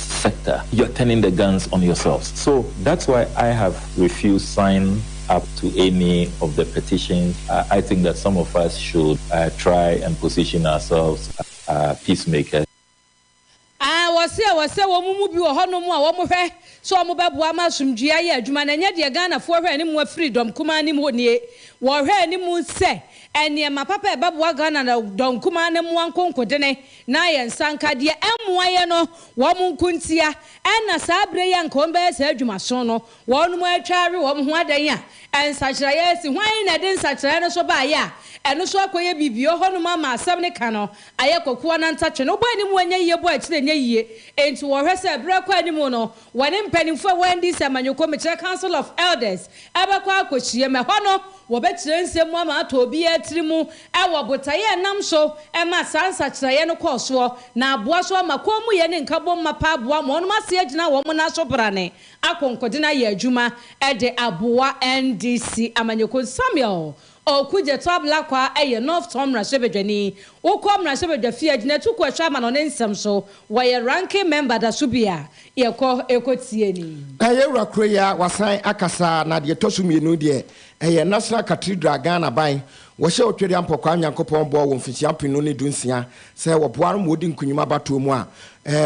sector you're turning the guns on yourselves so that's why I have refused sign up to any of the petitions I think that some of us should try and position ourselves as peace makers. Aah wɔse ɛwɔ sɛ wɔn mu bi wɔ hɔ nom a wɔn hwɛ sɛ wɔn bɛboa ama asomdwie ayɛ adwuma na ɛnyɛ deɛ Ghanafoɔ hwɛ anim afiri dɔm kumaa nim hɔ nie wɔhwɛ anim sɛ nneɛma papa ɛbɛboa Ghana na dɔm kumaa no mmoa nkonkode ne Na yɛn nsa nka deɛ ɛmmoa yɛn no, wɔn nko ntia, ɛna saa berɛ yi a anka wɔbɛyɛ saa adwumasono no, wɔnom atwa awe wɔn ho adɛn a nsakyeraeɛ asi? Hwan na ɛde nsakyeraeɛ no so baeɛ a ɛno nso akɔyɛ biribi? Ɔhɔ nom ama asɛm no ka no ayɛ kokoa na ntatwe no bɔ anim, wɔnyɛ yie bɔ akyire nyɛ yie, enti wɔhwɛ sɛ berɛ rekɔ anim no Wɔne mpanyimfo a wɔn NDC amanyɔkuo mekyerɛ Council of Elders bɛkɔ akɔhyiam. Ɛhɔ no, wɔbɛkyerɛ nsɛm mu ama atɔ obiara tiri mu wɔ botaeɛ a ɛnam so ma saa nsakyeraeɛ no kɔɔ soɔ, na aboa so ama kɔnmuyɛ ne nkabom mapa aboa ama wɔn ase agyina wɔn nan so brane akonkoden ayɛ adwuma de aboa NDC amanyɔkuo no, Samuel Ɔɔku Gyɛto Ablakwa yɛ North Tonn mmarahyɛbadwani. Wokɔ mmarahyɛbadwa fie a, gyina atukuo a ɛhwɛ amano ne nsɛm so. Wɔyɛ Ranking Member da so bi a, yɛkɔ kɔ tie ni. Ɛyɛ awura kuro yi ara wasan akasa na deɛ ɛtɔ so mmienu deɛ ɛyɛ National Cathedral Ghana aban wɔhyɛ Otwaria Mpɔkwaa Nyankopɔn bɔ wɔ mfirihyia mpem no ne du nsia sɛ wɔboa no ma wɔdi nkunim abatoɔ mu a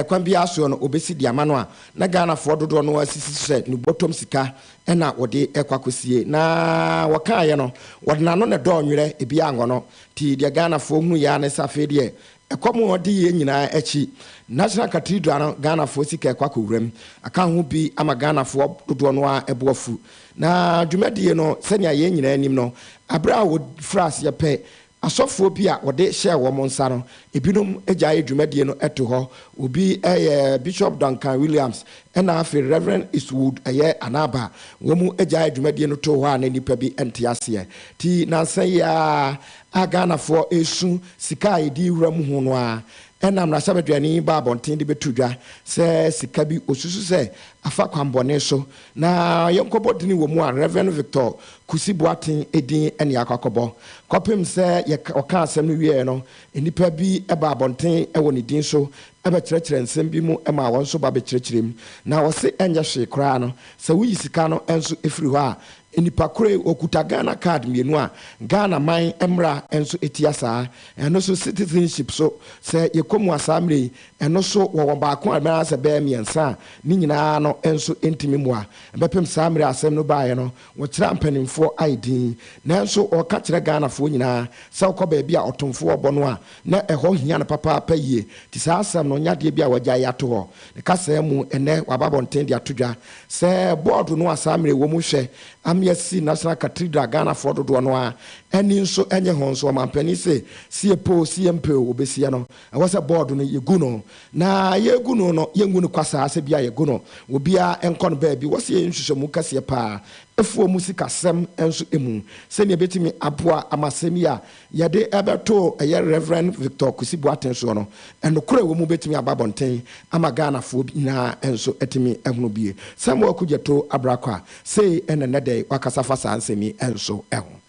kwan biara soɔ no wɔbɛsi de ama no a na Ghanafoɔ dodoɔ no ara sisi so sɛ ne bɔtɔm sika na wɔde kɔ akɔsie na wɔkaaeɛ no wɔde n'ano na ɛdɔɔ nwerɛ ebi anwɔ no nti deɛ Ghanafoɔ hunuiɛ ara ne sɛ afei deɛ ɛkɔ mu adiyie nyinaa akyi National Cathedral no Ghanafoɔ sika ɛkɔ akɔwura mu aka ho bi ama Ghanafoɔ dodoɔ no ara bo afu na dwumadie no sɛnea yɛn nyinaa nim no berɛ a wɔfiri aseɛ pɛ Asɔfoɔ bi a wɔde hyɛɛ wɔn nsa no, ebinom gyaee dwumadie no to hɔ. Obi yɛ Bishop Duncan Williams ɛna afei Rev. Eastwood yɛ Anaba. Wɔn gyaee dwumadie no too hɔ a na nnipa bi nte aseɛ. Ti nansa yi ara a Ghanafoɔ resu sika a yɛde rewura mu ho no ara, ɛna mmarahyɛbadwani baa abɔnten de bɛto dwa sɛ sika bi ɔsusu sɛ afa kwanbɔne so na yɛnkɔbɔ dini wɔ mu a Rev. Victor Kusi Boateng din na yɛakɔ akɔbɔ. Kɔpem sɛ yɛka, ɔkaa asɛm no wieɛ no, nnipa bi baa abɔnten wɔ ne din so bɛkyerɛkyerɛɛ nsɛm bi mu maa wɔn nso ba bɛkyerɛkyerɛɛ mu. Na wɔse ɛnyɛ hwee koraa no, sɛ woyi sika no nso firi hɔ a, nnipa koro yi ɔkuta Ghana card mmienu a Ghana man mmara nso tia saa. Ɛno so citizenship so, sɛ yɛkɔ mu a saa mmerɛ yi, ɛno so wɔwɔ baako anaasɛ ɛbɛyɛ mmiɛnsa a, ne nyinaa no nso ntumi mmoa bɛpem saa mmerɛ a asɛm no baeɛ no. Wɔkyerɛ ampanimfoɔ ayɛ din nanso wɔka kyerɛ Ghanafoɔ nyinaa sɛ wokɔ baabi a ɔtomfoɔ bɔ no a na ɛhɔ hia no papaapa yie nti saa asɛm no nyɛ adeɛ bi a wɔagyae ato hɔ ne kasaa mu ɛnnɛ wɔaba abɔnten de ato dwa sɛ bɔɔdo no a saa mmerɛ wɔ mu hwɛ ame asi National Cathedral Ghanafoɔ dodoɔ no ara ani nso nye ho nso ɔmanpanin se sɛ yɛpɛ o sɛ yɛmpɛ o wɔbɛsiɛ no Ɛwɔ sɛ bɔɔd no yegu no na yegu no no yɛngu no kwa saa sɛ bia yɛgu no wɔ biaa nkɔ no baabi. Wɔ sɛ yɛyɛ nhwehwɛmu kɛseɛ paa ɛfoɔ mu sikasɛm nso ɛmu sɛnea ɛbɛtumi aboa ama asɛm yi a yɛde ɛbɛto ɛyɛ Rev. Victor Kwesi Boateng soɔ no nokorɛ ɛwɔ mu bɛtumi aba abɔnten ama Ghanafoɔ nyinaa nso atumi ahunu bie. Samuel Kudjetoo Abrakwah sei na nnɛ dɛi wakasa fa saa nsɛm yi nso ho.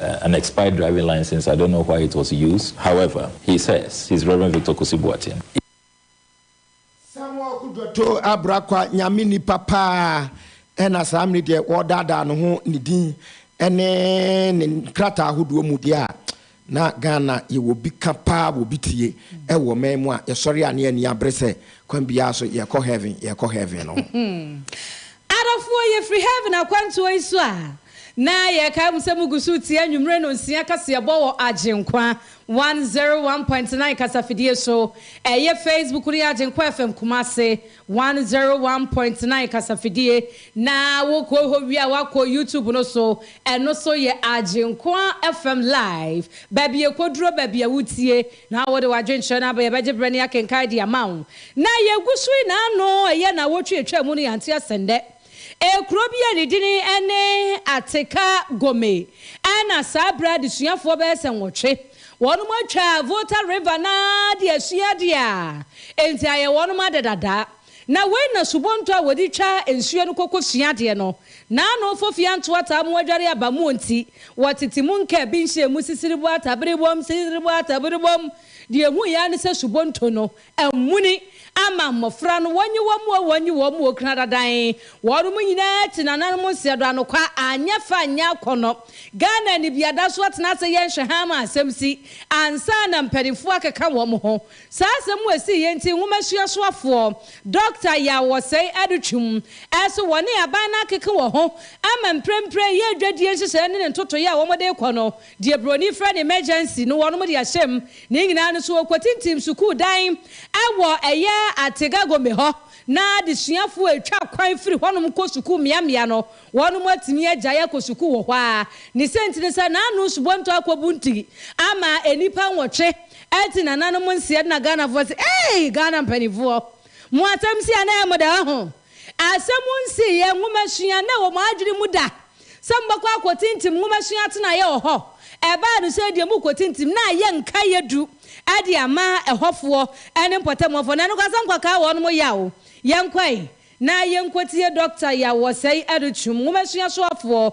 an expired driving licence, I don't know why it was used, however, he says he's Reverend Victor Kosi Boateng. Samuel Kudwoto Abrakwa Nyame nipa paa ɛna saa mmere deɛ wɔredaadaa no ho ne din ɛne ne nkrataa ahodoɔ mu deɛ a na Ghana yɛwɔ bi ka paa wɔ bi tie ɛwɔ man mu a yɛsɔre a ne ani abere sɛ kwan biara so yɛrekɔ heaven yɛrekɔ heaven no ho. Adɔfoɔ yɛfiri heaven akwantuo yi so a. Na yɛkae mo sɛ mugu so retie anwummere nnɔnsia kaseɛbɔ wɔ Agyenkwa one zero one point nine kasafidie so. Ɛyɛ Facebook no yɛ Agyenkwa FM Kumasi one zero one point nine kasafidie. Na wokɔ hɔ wie a woakɔ YouTube no so, ɛno so yɛ Agyenkwa FM Live. Baabi a ɛkɔduro baabi a wotie na wode w'adwenkyerɛ no aba, yɛbɛgye berɛ na yɛakenkan de ama wo. Na yɛgu so yi, na ano ɛyɛ nnawɔtwe a ɛtwaa mu no yɛante ase nnɛ. Ɛyɛ kuro bi a ne dini ne Ateka Gome ɛna saa berɛ adesuafoɔ bɛyɛ sɛ nwɔtwe wɔnom atwa Volta River no ara de asua adeɛ a enti ayɛ wɔnom ade dada. Na wei na subonto a wɔde twa nsuo no kɔkɔ sua adeɛ no na ano fɔ fie anto ataa mo adware aba muo nti wɔtete mu nka bi nhyɛɛ mu sisiriboataberebom sisiriboataberebom deɛ ɛhuiɛ ara ne sɛ subonto no Amuni ama mmofra no wɔnye wɔn mu o, wɔnye wɔn mu o kena dadan. Wɔnom nyinaa ti nananom nseɛ do anokwa anyɛ fɛ anyɛ akɔnɔ. Ghana anibiada so atena ase yɛ nhwɛhaa ma asɛm si ansa na mpaninfoɔ akeka wɔn ho. Saa asɛm mu a ɛsii yɛ nti nwoma suasoafoɔ Dɔkta Yaw Osei Adutwum se wɔne aban no akeke wɔ ho ama mprempren yɛ dwadie nhyehyɛɛ ne ne ntotoeɛ a wɔde rekɔ no Deɛ broni frɛ no emergency no wɔnom de ahyɛm ne nyinaa no so wɔkɔtintim sukuu dan wɔ ɛyɛ Artega Gombe hɔ na adesuafoɔ a ɛtwa kwan firi hɔnom kɔ sukuu mmea mmea no wɔnom atumi agyae akɔ sukuu wɔ hɔ ara ne sɛnti ne sɛ naano subonto akɔbu nti ama nnipa nwɔtwe ati nananom nseɛ na Ghanafoɔ se eei Ghana mpaninfoɔ mo asɛm se anaa mo daa ho. Asɛm nsiiɛ nwomasua na ɛwɔ mo adwene mu da sɛ mobɛkɔ akɔtintim nwomasua atenaeɛ wɔ hɔ. Ɛbaa no sɛ deɛ morekɔtintim na ayɛ nkaeɛ du de ama ɛhɔfoɔ ne mpɔtamuwafoɔ. Na nokwasɛm nkwakaa wɔnom yaw. Yɛnkɔe na yɛnkɔtie Dɔkta Yaw Wɔsɛe Adutwum nwomasua soafoɔ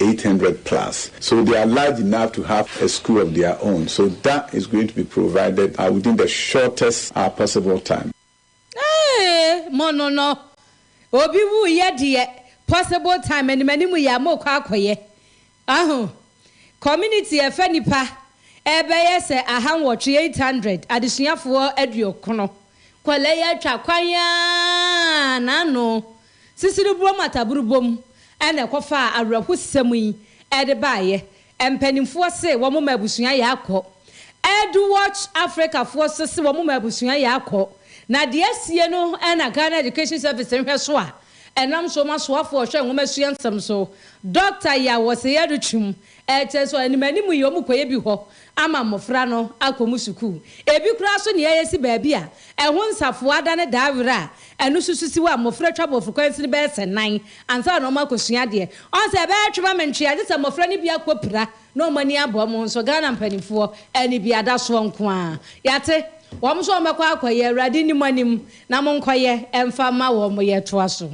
eight hundred plus so they are large enough to have a school of their own so that is going to be provided within the shortest possible time. Eeii mo no no obi wu yɛ deɛ possible time no m'anim yɛ a mo kɔ akɔ yɛ wahu community ɛfɛ nipa ɛbɛyɛ sɛ aha nwɔtwe eight hundred adesuafoɔ aduokron kɔlɛ yɛ atwa kwan aa na ano Sisiribrom ataburubom na ɛkɔfaa awerɛhosɛm yi de baeɛ. Mpanimfoɔ se wɔn ma abusua yɛ akɔ. Earthwatch Africa foɔ nso se wɔn ma abusua yɛ akɔ. Na deɛ asie no na Ghana Education Service nhwɛso a ɛnam so ma soafoɔ a ɔhwɛ nwomasua nsɛm so, Dɔkta Yaw Osei Aduchum Ɛkyɛ nso animanim yi wɔkɔyɛ bi hɔ ama mmofra no akɔ mu sukuu. Ebi koraa nso nea ɛyɛ si baabi a ɛho nsafoa da ne daa were a ɛno nso so si hɔ a mmofra twa borɔfo kwan sini bɛyɛ sɛ nan ansa na wɔakɔsua adeɛ. Ɔn sɛ ɛbɛyɛ twe ma me ntwe a gye sɛ mmofra no bi akɔpira na wɔn ani abɔ wɔn ho nso. Ghana mpanimfoɔ anibiadasoɔ nko ara. Yɛate. Wɔn nso wɔbɛkɔ akɔyɛ. Awurade nni mo anim na monkɔyɛ mfa mma wɔn. Yɛtoa so.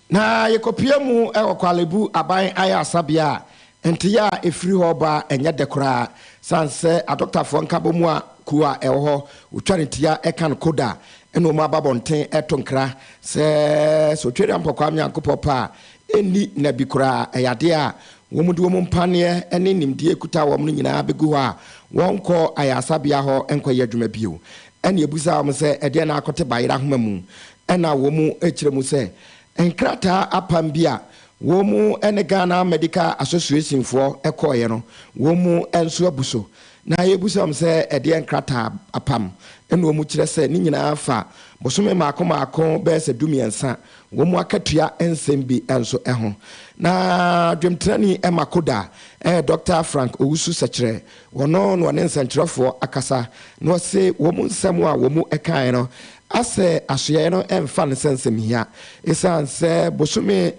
Na yekopue mu wɔ Korle Bu Aban Ayarsabea a nteyɛ a efiri hɔ ba nyɛ dɛ koraa san sɛ adɔkotafoɔ nkabɔmu a kuo a ɛwɔ hɔ wotwa ne tia ɛka no koda na wɔn aba abɔnten ɛto nkra sɛ sɛ Otweri Ampɔ Kwame Nyankopɔ pɛ a ɛnni nna bi koraa ɛyɛ adeɛ a wɔn de wɔn mpaneɛ ne nimdeɛ ɛkuta wɔn no nyinaa bɛgu hɔ a wɔnkɔ ayarsabea hɔ nkɔyɛ adwuma bio ɛne ɛbusaa wɔn sɛ ɛdeɛn na akɔte bayera ahoma mu Ɛna wɔkyerɛ mu sɛ, nkrataa apam bi a wɔn ne Ghana Medical Association foɔ kɔeɛ no, wɔn nso abu so. Na yɛrebisa wɔn sɛ ɛdeɛn nkrataa apam? Ɛna wɔkyerɛ sɛ ne nyinaa fa bosome mmaako mmaako bɛyɛ sɛ dumiɛnsa, wɔn akatua nsɛm bi nso ho. Na dwemtrani Makoda, Doctor Frank Owusu-Sekyerɛ, Wɔno na wɔne nsɛnkyerɛfoɔ akasa, na wɔse wɔn nsɛm a wɔn kaeɛ no asɛ asoɛeɛ no mfa no sɛ nsɛmhia, esiane sɛ bosome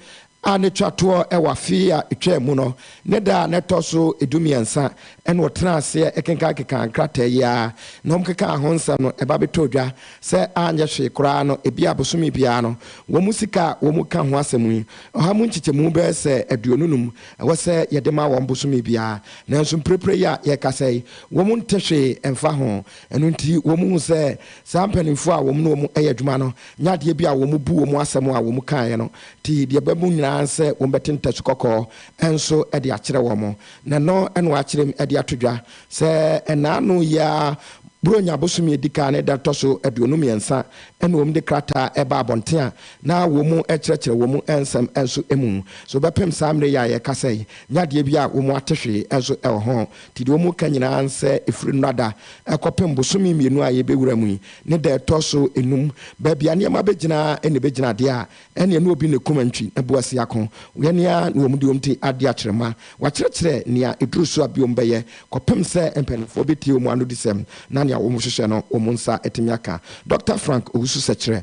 a na ɛtwa toɔ wɔ afe a ɛtwaa mu no ne da a na ɛtɔ so dummiɛnsa na wɔtenaa aseɛ kenkankenkan nkrataa yi ara na wɔkekaa ho nsɛm no ɛba bɛtɔɔ dwa sɛ anyɛ hwee koraa no ebia bosome biara no wɔn sika a wɔka ho asɛm yi ɔha mu nkyekyɛmu bɛyɛ sɛ aduonu num ɛwɔ sɛ yɛde ma wɔn bosome biara. Nanso mprepren yi a yɛrekasa yi, wɔn nte hwee mfa ho. Ɛno nti, wɔhu sɛ saa mpanimfoɔ a wɔne wɔn yɛ adwuma no nyɛ adeɛ bi a wɔbu wɔn asɛm a wɔkaeɛ no ti. Deɛ ɛba mu nyinaa ara sɛ wɔbɛte ntasu kɔkɔɔ nso de akyerɛ wɔn, na ɛno na wɔakyerem de ato dwa sɛ nnaano yi ara, Buronya bosome a ɛdi kan ne da a ɛtɔ so aduonu mmiɛnsa, na wɔde krataa ba abɔnten a na wɔn kyerɛkyerɛ wɔn nsɛm nso mu. So wobɛpem saa mmere yi a yɛka sɛ nya adeɛ bi a wɔn ate hwee nso wɔ ho? Nti deɛ wɔka nyinaa ne sɛ ɛfiri nnora da kɔpem bosome mmienu a yɛbɛwura mu yi ne da ɛtɔ so nnum baabi a nneɛma bɛgyina ara na ɛbɛgyina adeɛ a ɛnneɛ na obi ne kuma ntwi na boa si ako yɛ ne ara na wɔn de wɔn ti ade akyerɛ mu ma wɔakyerɛkyerɛ nea ɛduru so a bi wɔn bɛyɛ kɔpem sɛ mpanimfoɔ bɛtie wɔn anodisɛm na nea wɔhwehwɛ no wɔn nsa atumi aka. Dɔkta Frank Owusu-Sekyerɛ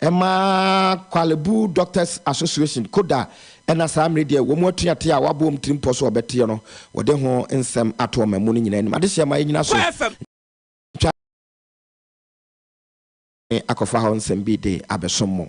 Ɛma Kwale Bu Doctors Association, KODA, ɛna saa mmere deɛ wɔn atuateɛ a wɔabɔ wɔn tirimpɔ so a wɔbɛteɛ no, wɔde ho nsɛm ato ɔmanmu no nyinaa anim. Adehyeɛ ma yɛnyina so ntwa adwene akɔfa hɔ nsɛm bi de abɛsom mo.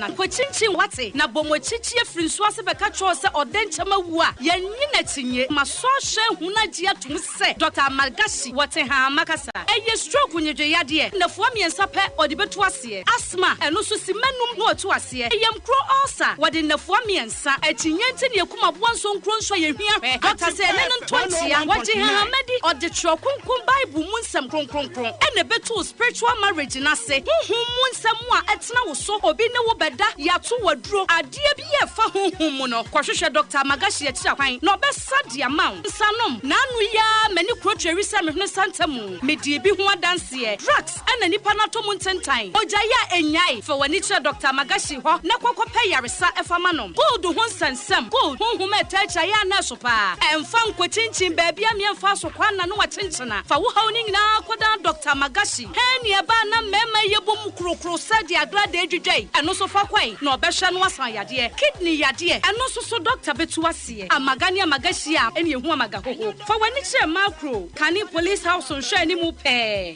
na kɔkyinkyin w'ate, na bɔ moakyi kyie firi nsuo ase bɛka kyerɛw sɛ ɔdɛ nkyɛ mawu a yɛnnye n'akyinye. Masɔ ahwɛ ahunu agye atom sɛ Dɔkta Amalgashi wɔ Tehama kasa. Ɛyɛ stroke nyedwe yadeɛ, nnafua mmiɛnsa pɛ ɔde bɛtu aseɛ. Asthma, ɛno nso simma num na watu aseɛ. Ɛyamkuro ulcer, wɔde nnafua mmiɛnsa. Sa akyinnye nti ne akum aboa nso nkuro nso a yɛhia hwɛ bata sɛ ɛne no ntɔ nkyea. Wɔgye Hahama di, ɔde Twerɛ Kronkron Bible mu nsɛm kronkronkron na ɛbɛtoo spiritual marriage no ase, honhom mu nsɛm a ɛtena wo so, obi ne wo bɛda, yɛato wo aduro, adeɛ bi a ɛfa honhom mu no. Kɔhwehwɛ Doctor Magashi akyiri akwan na ɔbɛsa de ama wo. Nsa nom. N'ano yi ara m'ani kuro tweri sɛ mehwene nsa ntamu. Medii bi ho adanseɛ. Drugs. Ɛna nnipa no atɔ mu ntentan. Ogyae a ennyae, fa w'ani kyerɛ Dɔkta Magashi hɔ na kɔ kɔpɛ yaresa fa ma no. Gold ho nsɛnsɛm, Gold, honhom a ɛtaa kyia yɛn anɛɛso paa. Ɛmfa nkɔkyinkyin baabi a mmea mfaa so kwan na no akyenkyena. Fa wo haw no nyinaa kɔdan Dɔkta Magashi. Hernia ba a na mmarima yɛ bom korokoro sɛ deɛ agradaa dwidwae, ɛno nso fa kɔe na ɔbɛhwɛ no asa yadeɛ. Kidney yadeɛ, ɛno nso so dɔkta bɛtu aseɛ. Amaga ne Amagashi a ɛne ɛhu Amagahoho. Fa w'ani kyerɛ Macro, kane Police House nhwɛanimu pɛɛ.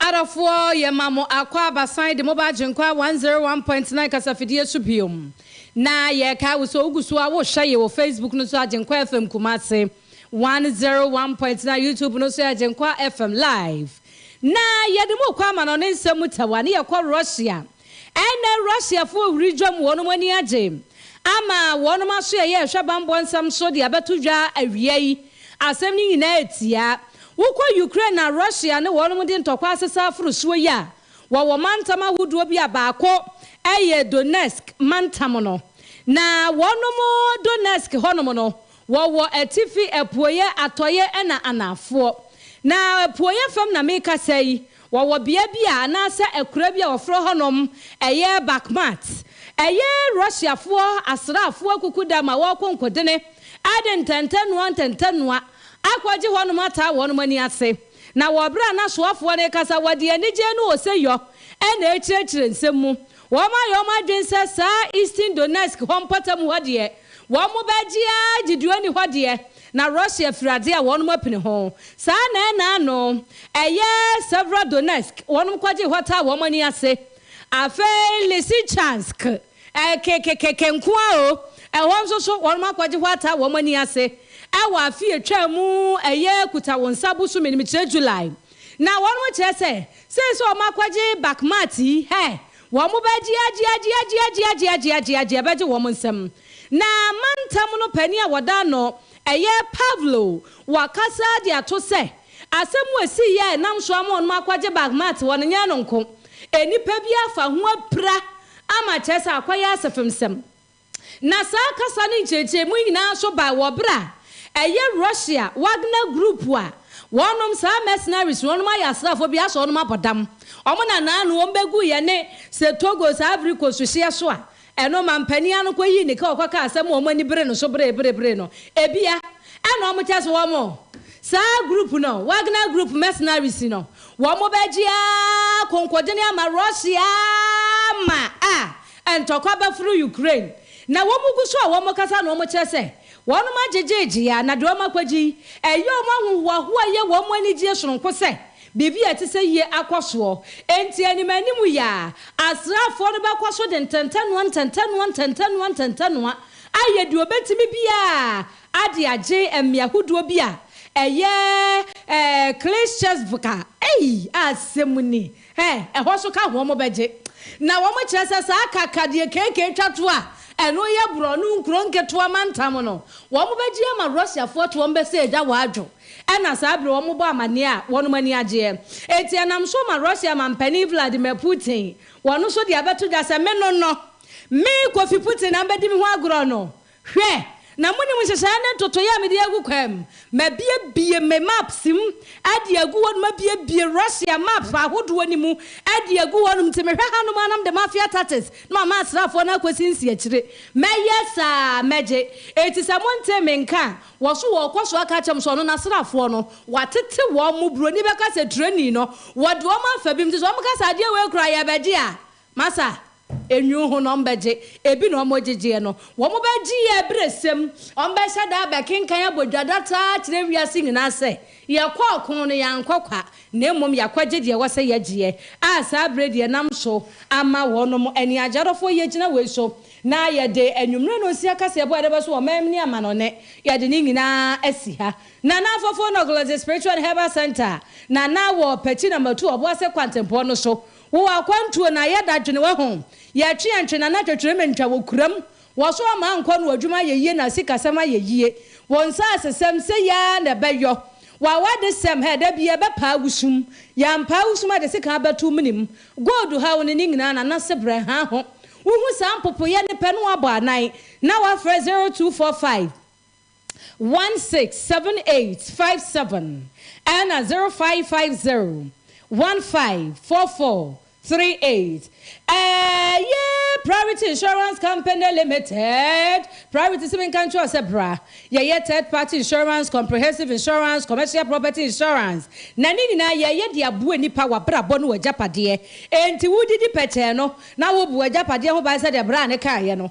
Adɔfoɔ, Yɛma mo akwaaba san de mo ba Agyenkwa 101.9 kasafidie so biom. Na yɛrekae wo sɛ wogu so a wohwɛ ye wɔ Facebook no so Agyenkwa FM Kumasi 101.9 YouTube no so Agyenkwa FM Live. Na yɛde mo kɔ amanɔne nsɛm mu tawa ne yɛkɔ Russia. Ɛnnɛ Russiafo wiridwam wɔnom ani agye ama wɔnom aso ɛyɛ ɛhwɛ bammɔ nsɛm so de abɛto dwa awia yi. Asɛm no nyinaa ɛtia. Wokɔ Ukraine na Russia ne wɔnom de ntɔkwa asesa aforo soɔ yi a, wɔwɔ mantam ahodoɔ bi a baako ɛyɛ Donetsk mantam no. Na wɔnom Donetsk hɔnom no Wɔwɔ atifi, apueɛ, atɔeɛ ɛna anaafoɔ. Na apueɛ fam na mekasa yi, wɔwɔ bea bi a anaasɛ akura bi a wɔfrɛ hɔ nom ɛyɛ Bakhmat. Ɛyɛ Russiafoɔ asraafoɔ akukuda ma wɔɔkɔ nkɔdene ɛde ntɛntɛnoa ntɛntɛnoa akɔgye hɔ nom ataa wɔn nom ani ase. Na wɔ berɛ a nasoafoɔ no rekasa wɔde anigyee ne oseyɔ ɛna ɛrekyerɛkyerɛ nsɛm mu. Wɔayɛ wɔn adwene sɛ saa Eastern Donetsk hɔ mpɔtam hɔ deɛ, wɔbɛgye ara gye deɛ ɔnni hɔ deɛ, na Russia firi adeɛ a wɔapene ho. Saa na ɛnna ano, ɛyɛ Severodonetsk, wɔkɔgyee hɔ taa wɔn ani ase. Afei Lysychansk, kekekeke nko ara o, ɛhɔ nso so wɔakɔgye hɔ ataa wɔn ani ase wɔ afe a ɛtwaa mu, ɛyɛ Kuta-wo-nsa bosome no mu, kyerɛ July. Na wɔn mo kyerɛ sɛ, sei sɛ wɔn akɔgye Bakmat yi, hɛ, wɔn mo bɛ gye agye agye agye agye agye agye agye agye ɛbɛgye wɔn mo nsam. Na mantam no panin a wɔda no ɛyɛ Pavlo wɔ kasa de ato sɛ, asɛm wɔ si yi a ɛnam so ama wɔn mo akɔgye Bakmat wɔn nyɛ no nko, nnipa bi afa ho apira ama kyerɛ sɛ akɔyɛ asefemsɛm. Na saa kasa no nkyerɛkyerɛmu nyinaa nso bae wɔ bere a ɛyɛ Russia Wagner Group a wɔnom saa mercenaries no, wɔnom ayɛ asraafo bi asɔ wɔnom abɔ dam. Wɔn na naa no wɔn bɛgu yɛne Setogo saa Ivory Coast hyeɛ so a ɛno manpanin ano kɔyii ne ka ɔkɔkaa asɛm a wɔn ani bere no so bere bere bere no. Ebia ɛna wɔn kyɛ sɛ wɔn saa group no, Wagner Group mercenaries no, wɔn bɛgye ara konkɔdene ama Russia ma a Ntɔkwa ba firi Ukraine na wɔn gu so a wɔn kasa na wɔn kyerɛ sɛ wɔn mo agyegye gyea na deɛ wɔn akɔgye yi ɛyɛ wɔn ahohoahoa yɛ wɔn mo anigyie sononko sɛ biribi a ɛte sɛ yie akɔ soɔ enti anim anim yi a asraafoɔ no bɛkɔ so de ntɛntɛnoa ntɛntɛnoa ntɛntɛnoa ntɛntɛnoa ayɛ deɛ wɔbɛtumi biara a de agye mmea hodoɔ bi a ɛyɛ ɛɛ Klishchevka ei asɛm ni Ɛ, ɛhɔ nso ka ho wɔn bɛgye. Na wɔn kyerɛ sɛ saa ka ka deɛ KK twa to a ɛno yɛ borɔno nkuro nketewa mantam no, wɔn bɛgye ama Russiafoɔ te wɔn bɛsɛ agya wɔ adwo. Ɛna saa bere wɔn bɔ amaneɛ a wɔnom ani agyeɛ. Enti ɛnam so ma Russia manpanin Vladimir Putin wɔn nso de abɛto dwa sɛ me no no, me, Kofi Putin, na mbɛdi me ho agorɔ no, Hwɛ, na munim nhyehyɛe ne ntotoe a mede agu kwaam. Mabuebue me maps mu de agu hɔnom, mabuebue Russia maps ahodoɔ no mu de agu hɔnom. Nti mehwɛ hanom ara na mede mafia tactics no ma m'asraafoɔ no akɔsi nsiakyire. Mɛyɛ saa a, mɛgye. Enti sɛ montee me nka a, wɔ so wɔkɔ so aka akyerɛ me sɛ ɔno n'asraafoɔ no, wɔatete wɔn. Buroni bɛka sɛ, Tirani no, wɔde wɔn afa bi mu. Nti sɛ wɔka sɛ, Adeɛ wei koraa, yɛbɛgye a, Masa, Enwuo ho na wɔn bɛgye, ebi na wɔn gyegyeɛ no, wɔn bɛgye yɛ abiresɛm, wɔn bɛhyɛ da abɛkenkan abɔ dwadataa akyerɛ wiase nyinaa sɛ, Yɛkɔ ɔko no, yɛankɔ kwa, na mmom yɛakɔgye deɛ ɛwɔ sɛ yɛgyeɛ, a saa berɛ deɛ nam so ama wɔnom ani agye adɔfoɔ yi agyina wei so, na yɛde anwummerɛ nonsia kaseɛbɔ a yɛde bɛso wɔn mɛm ne amanɔnɛ, yɛde ne nyinaa asi ha. Nana Afofo Noglozi Spiritual and Herbal Centre, Nana wɔ Pɛkyi Namatu Ɔboase Kwantempɔn no so, Wo wɔ akwantuo na yɛ da dwene wɔ ho Yɛ twe yɛn twe na na twetwere me ntwa wɔ kuram Wɔ so ama ankɔ no adwuma ayɛ yie na sika sɛm ayɛ yie Wo nsaase sɛm sɛ yi ara na ɛbɛ yɔ Wɔ awa de sɛm hɛ da bi yɛ bɛ paa wusum Yɛ ampaa wusum a de sika abɛ to menim Gold ha wo ne ne nyinaa na na sebrɛ ha ho Wo hu saa mpopo yɛ ne pɛ na wa bɔ anan na wa frɛ zero two four five one six seven eight five seven ɛna zero five five zero one five four four three eight ɛyɛ Priority Insurance Company Limited Priority sɛ menka nkyerɛ sɛ bra yɛyɛ third party insurance comprehensive insurance commercial property insurance na ne nyinaa yɛyɛ de aboa nipa wabrabɔ ne wagyapadeɛ enti wodidi pɛkyɛɛ no na wobu agyapadeɛ ho ban sɛdeɛ bra no kaeɛ no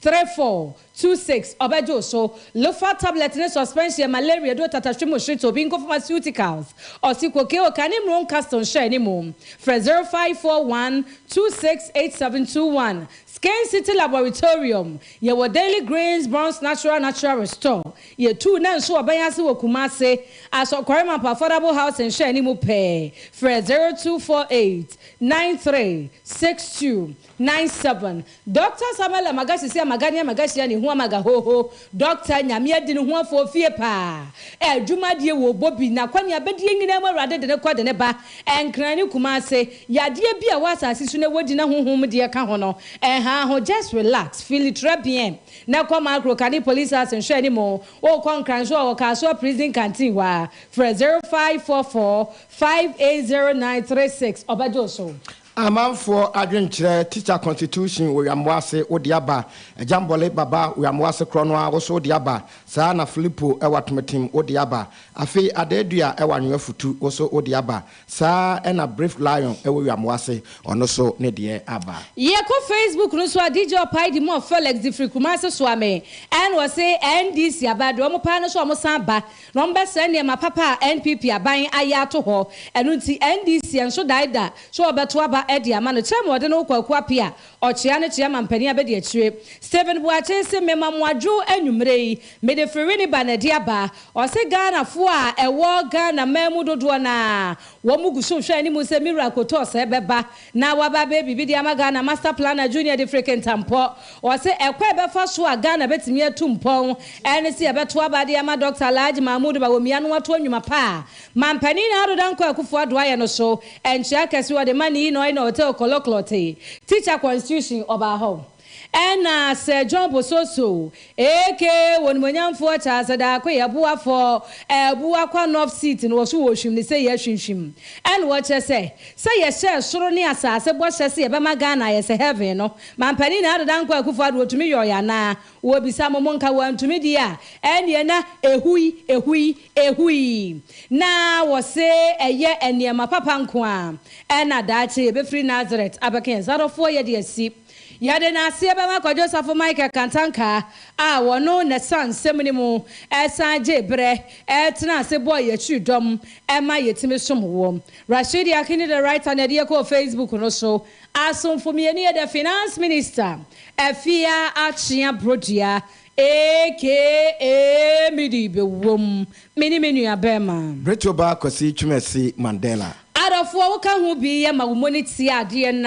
Three four two six ɔbɛgye wo so Lofa tablet ne suspension malaria duro tatahwe mu hyereto obi nko pharmaceuticals ɔse koke o kane mmuro nkastle nhyɛ ne mu frɛ zero five four one two six eight seven two one Skin City Laboratorium yɛwɔ Daily Greens Bronze Natural Natural Restore yɛtuu na nso ɔbɛn ase wɔ Kumase Asɔ Kwarimampo Affordable Housing nhyɛ ne mu pɛɛ frɛ zero two four eight nine three six two. Nine seven, Dɔkta Samuel Amagahye sɛ Amagania Amagahye a ne ho Amaga Hoho, Dɔkta, Nyame adi ne ho afoɔ ofie paa, adwuma adie wɔ ɔbɔ bi, nakwanea bɛdie nyinaa mu Awurade de no kɔ de no ba, Nkran ne Kumase, yadeɛ bi a ɛwɔ asase so na wɔdi na honhom mu deɛ ka ho no ɛnhaa ho, just relax, feel it très bien, na kɔ Macro Kane Police House nhwɛ ne mu, wokɔ Nkran nso a wɔ Kasoa Prison Canteen hɔ ara, frɛ zero five four four five eight zero nine three six ɔbɛgye wo so. Amanfoɔ adwenkyerɛ Teacher constitution wɔ Wyamoase wo de aba Agyambɔle baba Wyamoase korɔ no ara wo so wo de aba Saa ara na Filipo wɔ Atometem wo de aba Afei Adaadua wɔ Anwoafutu wo so wo de aba Saa ara na Brave Lion wɔ Wyamoase ɔno so ne deɛ aba. Yɛkɔ Facebook no so a DJ Ɔpae di mu ɔ Felix de firi Kumase soa me ɛna ɔse NDC aba deɛ ɔmo paa no so ɔmo san ba Na wɔbɛsɛe nneɛma papa a NPP aban ayɛ ato hɔ. Ɛno nti NDC ɛnso dae da sɛ wɔbɛto aba de ama no. Term a wɔde no ho Kwaku Apea, ɔkyea ne kyea mampanin a bɛdi akyire. Stephen Boakye se mema mo adwo anwumerɛ yi. Mede Firini ba na de aba. Ɔse Ghanafoɔ a ɛwɔ Ghana man mu dodoɔ no ara wɔn guso hwɛ anim sɛ me wura Kotɔɔ sɛ bɛba. Na waba abɛyɛ biribi de ama Ghana, Master Planner Junior de Freke Ntampɔ. Ɔse ɛkwan a ɛbɛfa so a Ghana bɛtumi atu mpɔn ɛne se yɛbɛto aba de ama Dɔkta Alhaji Mahmood Bawumia na watoa nnwuma pa a Manpanin Ado Dankwa Akufo Addo ayɛ no so. Nkyea kɛse ɔde ma Nii Noina Oteo Koloklɔte, Teacher Constitution, Ɔbaa Hɔ. Ɛna Sir John Bososo, aka Onimuonyamfoɔ Charles Adaako Yeboah for Abuakwa North seat no wɔso wɔrehwim no sɛ yɛahwimhwim ɛna wɔkyerɛ sɛ sɛ yɛhyɛɛ soro ne asaase bɔhyɛ sɛ yɛbɛma Ghana ayɛ sɛ heaven no Mampanin Nana Addo Dankwa Akufo Addo ɔtumi yɔɔeɛ anaa? Wɔbisa mo monka wɔantumi deɛ a ɛneɛ na ɛhui ɛhui ɛhui na wɔse ɛyɛ nneɛma papa nkoaa ɛna daakye yɛbɛfiri Nazareth abɛka yɛn nsa adɔfoɔ yɛde asi Yɛde naseɛ bɛma Kwadwo Safo Michael Kantankaa a wɔno na san nsɛm no mu ɛsan gyee berɛ ɛtena ase bɔɔ yɛ akyiri dɔm ɛma yɛtumi som wɔ Rashidi Akini the writer na ɛde yɛ kɔɔ Facebook no so Asomfo mmienu yɛ the Finance Minister Afia Akyea Brodua aka Midi bɛwom me ne me nua bɛɛma Bretoba Kwasi Twumasi Mandela. Adɔfoɔ woka ho bi yɛ ma wo moni tia adeɛ na.